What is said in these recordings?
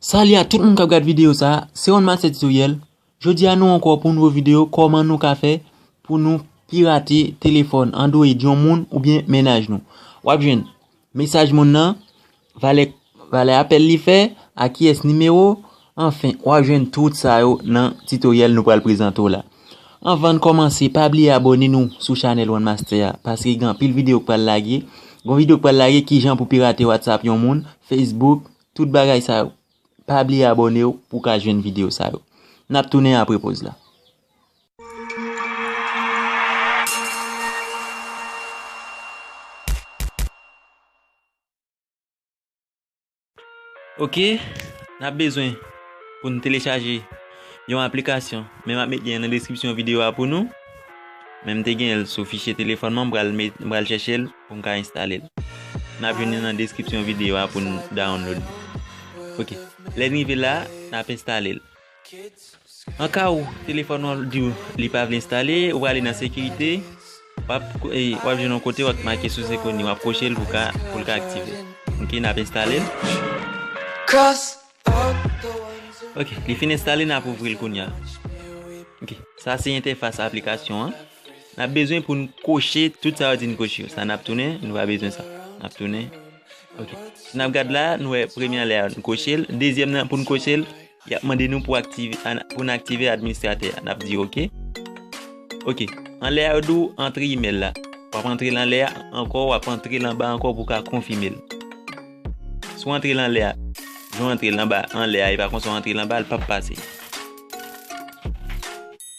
Salut a tout moun kap gad video sa, se One Master Tutoriel, jodi a nou ankò pou nouvo video kòman nou ka fè pou nou pirate telefòn android yon moun oubyen mennaj nou. Wap jwenn mesaj moun nan, valè apèl li fè, a kiyès nimewo, Anfen, wap jwenn tout sa yo nan tutoriel nou pral prezante w la. Anvann kòmanse pa bliye abòne nou sou chanèl one master a paske gen anpil video k pral lage, gon video k pral lage kijan pou pirate whatsapp yon moun, facebook, tout bagay sa yo. Pa bliye abòne w pou w ka jwenn video sa yo. Nap tounen apre poz la. Ok nap bezwen pou nou telechaje yon aplikasyon men map met lyen nan deskripsyon videyo a pou nou men m te gen l sou fichye telefòn mwen m pral met m pral chèche l pou m ka enstale l nap jwenn li nan deskripsyon videyo a pou nou download li ok lè n rive la nap enstale l. An ka ou telefòn ou di ou li pa vle enstale, ou va ale nan sekirite, wap wap jwenn yon kote wap make sous ekoni, wap koche l pou ka pou l ka aktive. Ok nap enstale l. Ok li fin enstale nap ouvri l kounya. Ok sa se entèfas aplikasyon an. Nap bezwen pou n koche tout sa yo di n koche yo. Sa nap tounen nou pa bezwen sa. Nap tounen ok. Si nap gad la nou wè premye an lè a nou koche l, dezyèm nan pou n koche l. Yap mande nou pou aktive pou n aktive administratè a nap di ok ok anlè a yo di w antre email la wap antre l anlè a ankò wap antre l anba ankò pou w ka konfime l si w antre l anlè a jan w antre l anba anlè a e pa konsa w antre l anba l pap pase.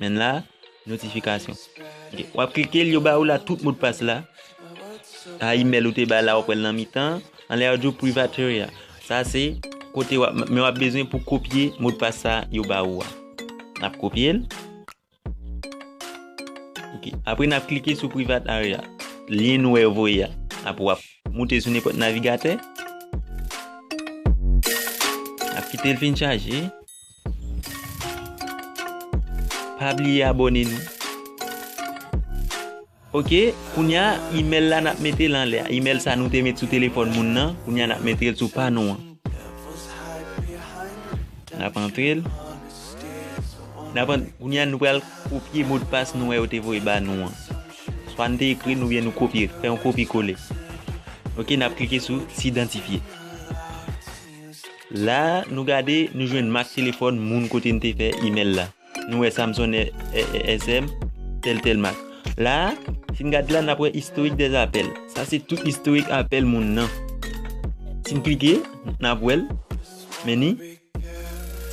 Men la notification ok wap klike l yo ba ou la tout modpas la a email ou te bay la wap wèl nan mitan an lè yo di private area sa se kote wap men wap bezwen pou kopye modpas sa yo ba ou a nap kopye l ok apre nap klike sou private area lyen nou wè yo voye a ap wap moute sou nepòt navigatè ap kite l fin chaje Pa bliye abone nou. Ok kounya email la nap metel anlè a email sa nou te met sou telefòn moun nan kounya nap metel sou pa nou an nap antrel nap an kounya nou pral kopye modpas nou wè yo te voye ba nou an swa nou te ekri nou byen nou kopye fè yon kopye kole ok nap klike sou si idantifye La a, nou gade, nou jwenn mak telefòn moun kote n te fè imèl la. Nou wè Samson SM, tèl tèl mak. La a, si n gade la, n ap wè Historique des appels. Sa se tout istorik apèl moun nan. Si n klike, n ap wè l. Meni.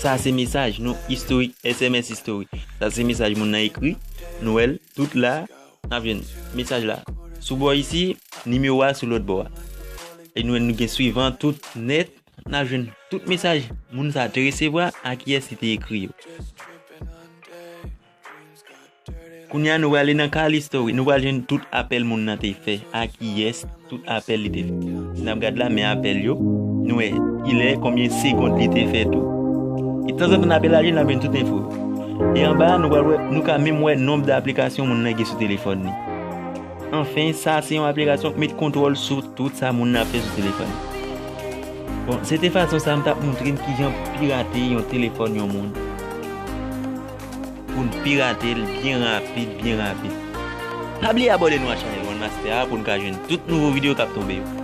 Sa se mesaj nou, istorik, SMS istorik. Sa se mesaj moun nan ekri. Nou wè l, tout la a. Nap jwenn mesaj la sou bò isi, nimewo a sou lòt bò a. E nou nou gen swivan tout nèt, nap jwenn tout mesaj moun sa te resevwa a kiyès li te ekri yo. Kounya nou wale nan kal istori, nou wale jwenn tout apèl moun nan te fè a kiyès. Tout apèl li te fè. Si nap gad la men apèl yo. Nou wè kilè, konbyen segond li te fè tou. E tanzantan nap elaji nap jwenn tout enfo yo. E anba a nou pral wè, nou ka menm wè nonb de aplikasyon moun nan gen sou telefòn li. Anfen, sa se yon aplikasyon k met kontwòl sou tout sa moun nan ap fè sou telefòn li. Bon, se te fason sa m tap montre n kijan pou pirate yon telefòn yon moun. poun piratel byen rapid byen rapid. Pa bliye abone nou a chanel one master a poun ka jwenn tout nouvo video kap tonbe yo.